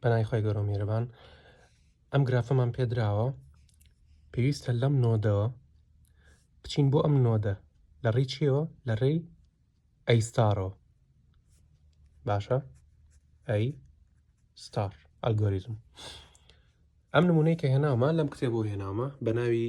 پەنای خۆی گەۆ میێرەبان ئەم گرافەمان پێدراوە پێویستە لەم نۆدەوە بچین بۆ ئەم نۆدە لە ڕێی چیەوە لە ڕێی ئەیستارەوە باشە ئەی ستار ئەلگۆریزم ئەم نمونەی کە هێناومە لەم کتێبەوە هێناومە بە ناوی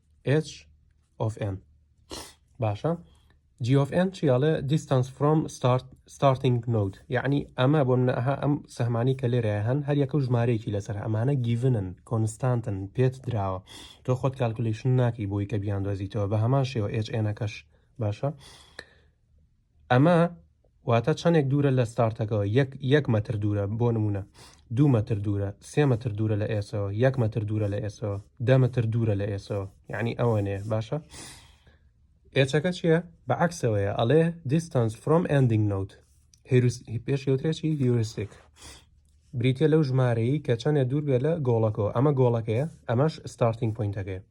h of n باشە g of n چی ئەڵێ distance from start starting node یعنی ئەمە بۆ منە ئەها ئەم سەهمانی کە لێرە هەن هەر یەکە و ژمارەیەکی لەسەر ئەمانە گیڤنن کۆنستانتن پێت دراوە تۆ خۆت کالکولیشن ناکەی بۆی کە بیاندۆزیتەوە بە هەمان شێوە h ێنەکەش باشە ئەمە واتە چەندێک دوورە لە ستارتەکەەوە یەک یەک مەتر دوورە بۆ نمونە دوو مەتر دوورە سێ مەتر دوورە لە ئێسەوە یەک مەتر دوورە لە ئێسەوە دە مەتر دوورە لە ئێسەوە یعنی ئەوەنێ باشە ئێچەکە چییە بە عکسەوەیە ئەڵێ دیستانس فرۆم ئەندنگ نوت پێش یوترێکی هیورستێک بریتە لەو ژمارەیە کە چەندە دوور بێ لە گۆڵەکەەوە ئەمە گۆڵەکەیە ئەمەش ستارتنگ پوینتەکەی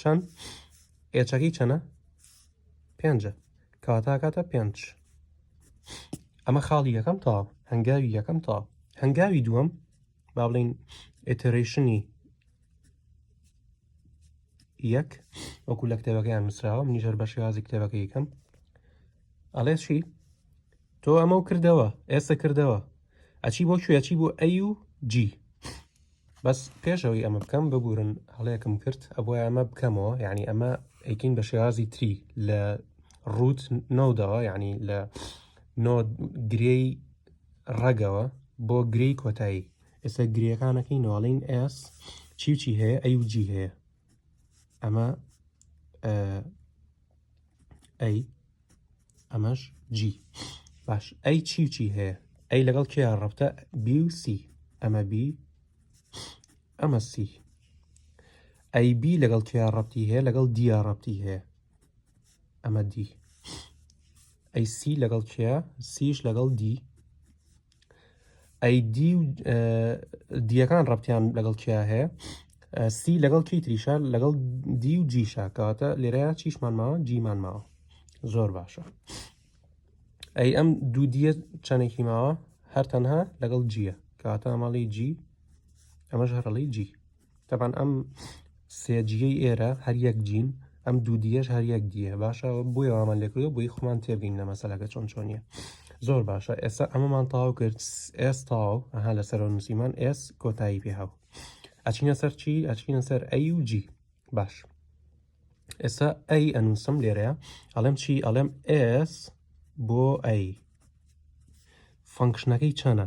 چەند ئێچەکەی چەنە پێنجە کەواتاکاتە پێنج ئەمە خاڵی یەکەم تا هەنگاوی یەکەم تا هەنگاوی دووەم با بڵین ئترشنی یەک وەکو لە کتێبەکەیان نووسراوە منیژەر بە شێوازی کتێبەکە یکەم ئەڵێ چی تۆ ئەمە کردەوە ئێستا کردەوە ئەچی بۆ کوێچی بۆ ئەی و جی بەس پێش ئەوەی ئەمە بکەم ببورن هەڵەیەکم کرد ئەبووە ئەمە بکەمەوە یعنی ئەمە ئەیکین بە شێوازی تری لە ڕوت نۆدەوە یعنی لە نۆ گرێی ڕەگەوە بۆ گرێی کۆتایی ئێستا گرێەکانەکەی نواڵین ئێس چی چی هەیە ئەی و جی هەیە ئەمە ئەی ئەمەش جی باش ئەی چی و چی هەیە ئەی لەگەڵ کێ ڕەبتە بی و سی ئەمە بی ئەمە سی ئەی بی لەگەڵ کێ ڕەبتی هەیە لەگەڵ دیا ڕەبتی هەیە ئەمە دی ئەی سی لەگەڵ کێ سیش لەگەڵ دی ئەی دی و دیەکان ڕەتیان لەگەڵ کیا هەیە سی لەگەڵ کی تریشە لەگەڵ دی و جیشە کەواتە لێرەیە چیشمان ماوە جیمان ماوە زۆر باشە ئەی ئەم دوو دیە چەندێکی ماوە هەر تەنها لەگەڵ جیە کەواتە ئەمەڵی جی ئەمەش هەرڵی جی تەبان ئەم سێجیەی ئێرە هەر یەک جین ئەم دوو دیەش هەر یەک دیە باشە بۆی وامان لێکردەوە بۆی خۆمان تێبین لە مەسەلەکە چۆن چۆنیە زۆر باشە ئێستا ئەمەمان تاو کرد ئێس تاو ئەها لەسەرەوە نووسیمان ئێس کۆتایی پێهاو ئەچینە سەر چی ئەچینە سەر ئەی و جی باش ئێستا ئەی ئەنووسم لێرەیە ئەڵێم چی ئەڵێم ئس بۆ ئەی فەنکشنەکەی چەنە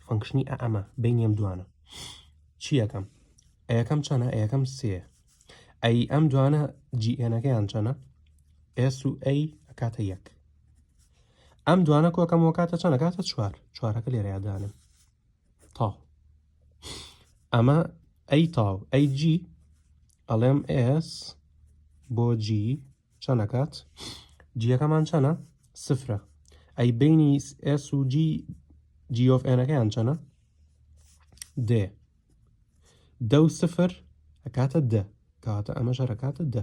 فەنکشنی ئەمە بینیم دوانە چیەکەم ئەیەکەم چەنە ئەیەکەم سێ ئەی ئەم دوانە جیئێنەکەیان چەنە ئێس و ئەی ئەکاتە یەک ئەم دوانە کۆکەم وکاتە چەنە کاتە چوار چوارەکە لێرەیادانم تاو ئەمە ئەی تاو ئەی جی ئەڵێم ئس بۆ جی چەنەکات جیەکەمان چەنە سفرە ئەی بینی ئس و جی جیۆف ئێنەکەیان چەنە دێ دە و سفر ئەکاتە دە کاتە ئەمە ژەرەکاتە دە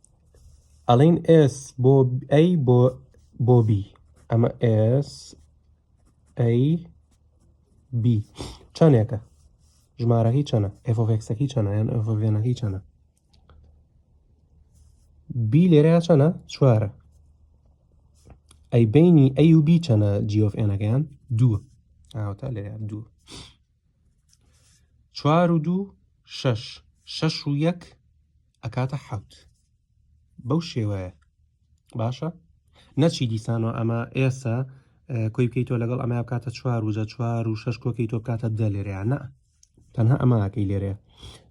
ئەڵین ئێس بۆ ئەی بۆ بۆ بی ئەمە ئێس ئەی بی چەندێکە ژمارەکەی چەنە ئەفۆفێکسەکەی چەنە یان ئەفۆڤێنەکەی چەنە بی لێرە چەنە چوارە ئەی بینی ئەی و بی چەنە جیۆف ئێنەکەیان دووە ئاوتا لێرە دوو چوار و دوو شەش شەش و یەک ئەکاتە حەوت بەو شێوەیە باشە نەچی دیسان و ئەمە ئێسا کۆی بکەیت تۆ لەگەڵ ئەمە بکاتە چوار وجە چوار و شش کۆکەی تۆ بکاتە دە لێریانە تەنها ئەماکەی لێرەیە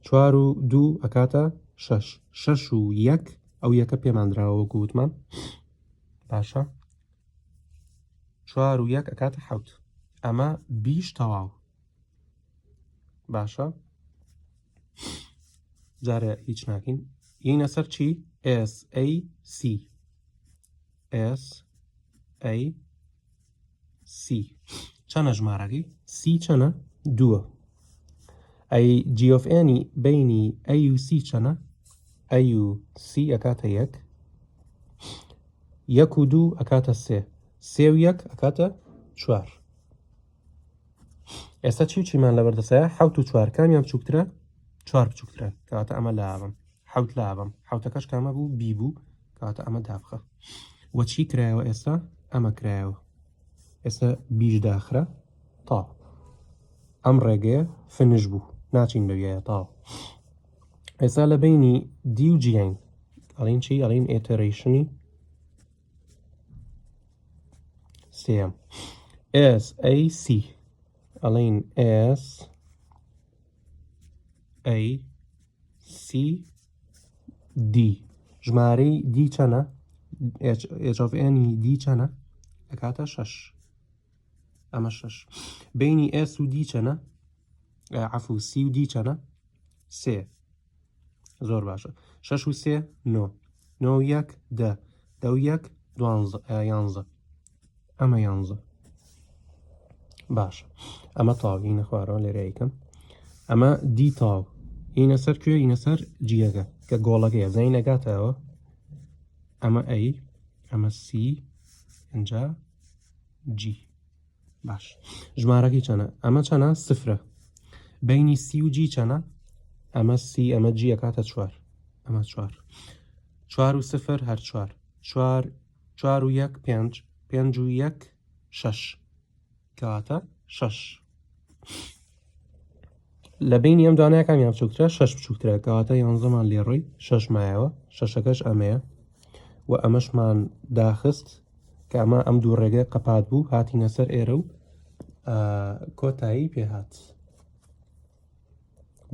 چوار و دوو ئەکاتە شش شش و یەک ئەو یەکە پێماندراوە گوتمان باشە چوار و یەک ئەکاتە حوت ئەمە بیش تەواو باشە جارە هیچ ناکەین یینە سەر چی SAC SAC چەنە ژمارەکەی سی چەنە دووە ئەی جیۆفێنی بینی ئەوC چەنە ئەوC ئەکاتە یەک یەک و دوو ئەکاتە سێ سێ و یەک ئەکاتە چوار ئێستا چی چیمان لە بەردەسەیە حوت و چوار کامیان بچووکترە چوار بچووکترە کەواتە ئەمە لاوم حوت لاوم حوتەکەش کامە بوو بی بوو کەواتە ئەمە دابخە وەچی کرایەوە ئێستا ئەمە کرایەوە ئێستا بیش داخرا تا ئەم ڕێگەیە فنش بوو ناچین بەویایە تاو ئێستا لە بینی دی و جیین ئەڵین چی ئەڵین ئێتەرەیشنی سێم ئێس ئەی سی ئەڵین ئێس ئەی سی دی ژمارەی دی چەنە ئێجۆڤێنی e دی چەنە ئەکاتە شەش ئەمە شەش بینی ئێس و دی چەنە عفو سی و دی چەنە سێ زۆر باشە شەش و سێ نۆ نۆ یەک دە دە و یەک دوانزە یانزە ئەمە یانزە باش ئەمە تاوینە خوارەوە لێرەیکەم ئەمە دی تاو هینە سەر کوێ هینە سەر جیەکە کە گۆڵەکەی زەی نەگاتەوە ئەمە ئەی ئەمە سی ئەجا جی باش ژمارەکەی چەنە ئەمە چەنە سفرە بینی سی و جی چەنە ئەمە سی ئەمە جیە کاتە چوار ئەمە چوار چوار و سفر هەر چوار چوار چوار و یەک پێنج پێنج و یەک شەش کەواتە شەش لە بینی ئەم دوانەکان یان بچووکترە شش بچووکترە کەواتە یانزەمان لێڕۆی شش مایەوە شەشەکەش ئەمەیە و ئەمەشمان داخست کە ئەمە ئەم دوو ڕێگە قەپات بوو هاتینە سەر ئێرە و کۆتایی پێهات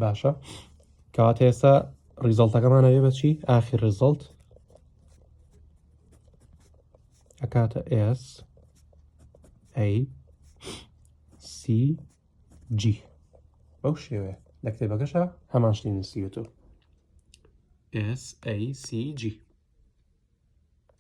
باشە کەواتە ئێستا ڕیزڵتەکەمانەوێ بەچی ئاخی ڕزڵت ئەکاتە S A C G بەو شێوەیە لە کتێبەکەشە هەمان شتی نووسیوەتەوە S A C G